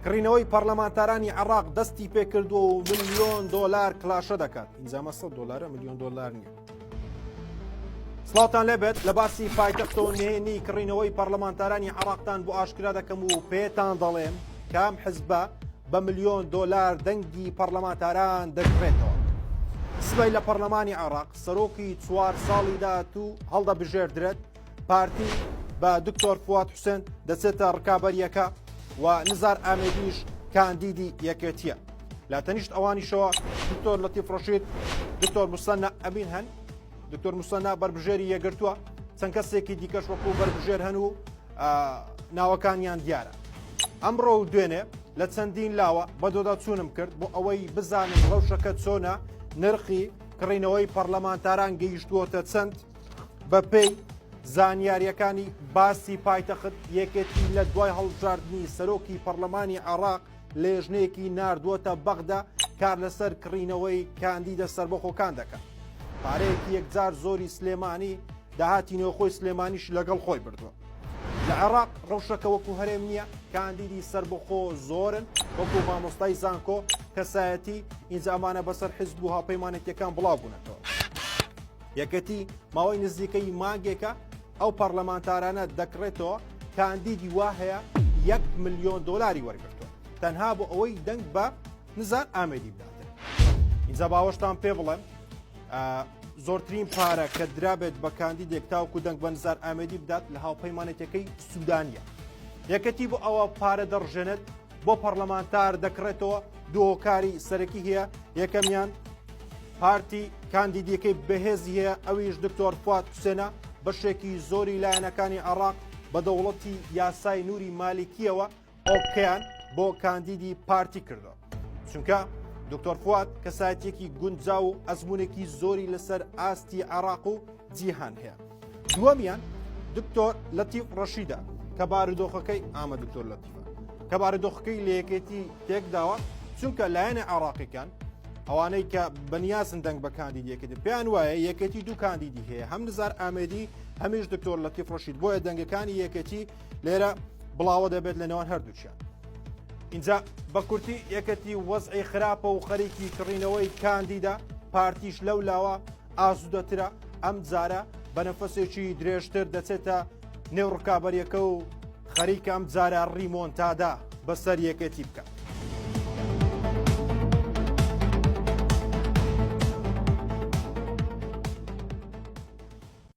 کڕینەوەی پەرلەمانتارانی عراق دەستی پێکردووە و ملیۆن دۆلار کلاشە دەکات ئینجامە 100 دلارە ملیۆن دلار نیە سڵاوتان لێبێت لە باسی پایتەختەوە نێنی کڕینەوەی پەرلەمانتارانی عراقتان بۆ ئاشکرا دەکەم و پێتان دەڵێم کام حزبە بە ملیۆن دۆلار دەنگی پەرلەمانتاران دەکرێتەوە سبەی لە پەرلەمانی عراق سەرۆکی چوار ساڵی داهاتوو هەڵدەبژێردرێت پارتی بە دکتۆر فواد حوسێن دەچێتە ڕکابەریەکە و نزار ئامێدیش کاندیدی یەکێتیە لە تەنیشت ئەوانیشەوە دکتۆر لەتی فڕۆشید دکتۆر مسەنە ئەبین هەن دکتۆر مسەنا بەربژێری یەگرتووە چەند کەسێکی دیکەش وەکو بەربژێر هەن و ناوەکانیان دیارە ئەمڕۆ و دوێنێ لە چەندین لاوە بەدۆدا چوونم کرد بۆ ئەوەی بزانم ڕەوشەکە چۆنە نرخی کڕینەوەی پەرلەمانتاران گەیشتووەتە چەند بەپێی زانیاریەکانی باسی پایتەخت یەکێتی لە دوای هەڵبژاردننی سەرۆکی پەرلەمانی عراق لێژنەیەکی نردووەتە بەغدا کار لەسەر کڕینەوەی کاندیدە سربەخۆکان دەکات پارەیەکی یەکجار زۆری سلێمانی داهاتی نۆخۆی سلێمانیش لەگەڵ خۆی بردووە لە عێراق ڕەوشەکە وەکو هەرێم نییە کاندیدی سربەخۆ زۆرن وەکو مامۆستای زانکۆ کەسایەتی ئینجامانە بەسەر حزب و هاپەیمانێتەکان بڵاو بوونەتەوە یەکێتی ماوەی نزیکەی مانگێکە ئەو پەرلەمانتارانە دەکڕێتەوە کاندیدی وا هەیە یەک ملیۆن دۆلاری وەرگرتووە تەنها بۆ ئەوەی دەنگ بە نزار ئامێدی بداتێت اینجا باوەشتان پێ بڵێن زۆرترین پارە کە درابێت بە کاندیدێک تاوکو دەنگ بە نزار ئامێدی بدات لە هاوپەیمانێتەکەی سوودانە یەکەتی بۆ ئەوە پارە دەڕژێنێت بۆ پەڕلەمانتار دەکڕێتەوە دووکاری سەرەکی هەیە یەکەمیان پارتی کاندیدیەکەی بەهێزی هەیە ئەویش دکتۆر فات حوسێنە بەشێکی زۆری لایەنەکانی عراق بە دەوڵەتی یاسای نووری مالیکیەوە ئۆکیان بۆ کاندیدی پارتی کردو چونکە دکتۆر فات کەسایەتێکی گونجا و ئەزمونێکی زۆری لەسەر ئاستی عراق و جیهان هەیە دووەمیان دکتۆر لەتیف ڕەشیدا کە بارودۆخەکەی ئامە دکتۆر لەتیفە کە بارودۆخەکەی لەیەکێتی تێکداوە چونکە لایەنە عراقیەکان ئەوانەی کە بەنیاسن دەنگ بە کاندیدەکەن پێیان وایە یەکێتی دوو کاندیدی هەیە هەم نزار ئامێدی هەمیش دکتۆر لەتیف ڕەشید بۆیە دەنگەکانی یەکێتی لێرە بڵاوە دەبێت لە نێوان هەردووچیان اینجا بە کورتی یەکەتی وەزعی خراپە و خەریکی کڕینەوەی کاندیدا پارتیش لەو لاوە ئاسودەترە، ئەمجارە بە نەفەسێکی درێژتر دەچێتە نێو ڕکابەریەکە و خەریکە ئەمجارە ڕیمۆنتادا بەسەر یەکێتی بکە.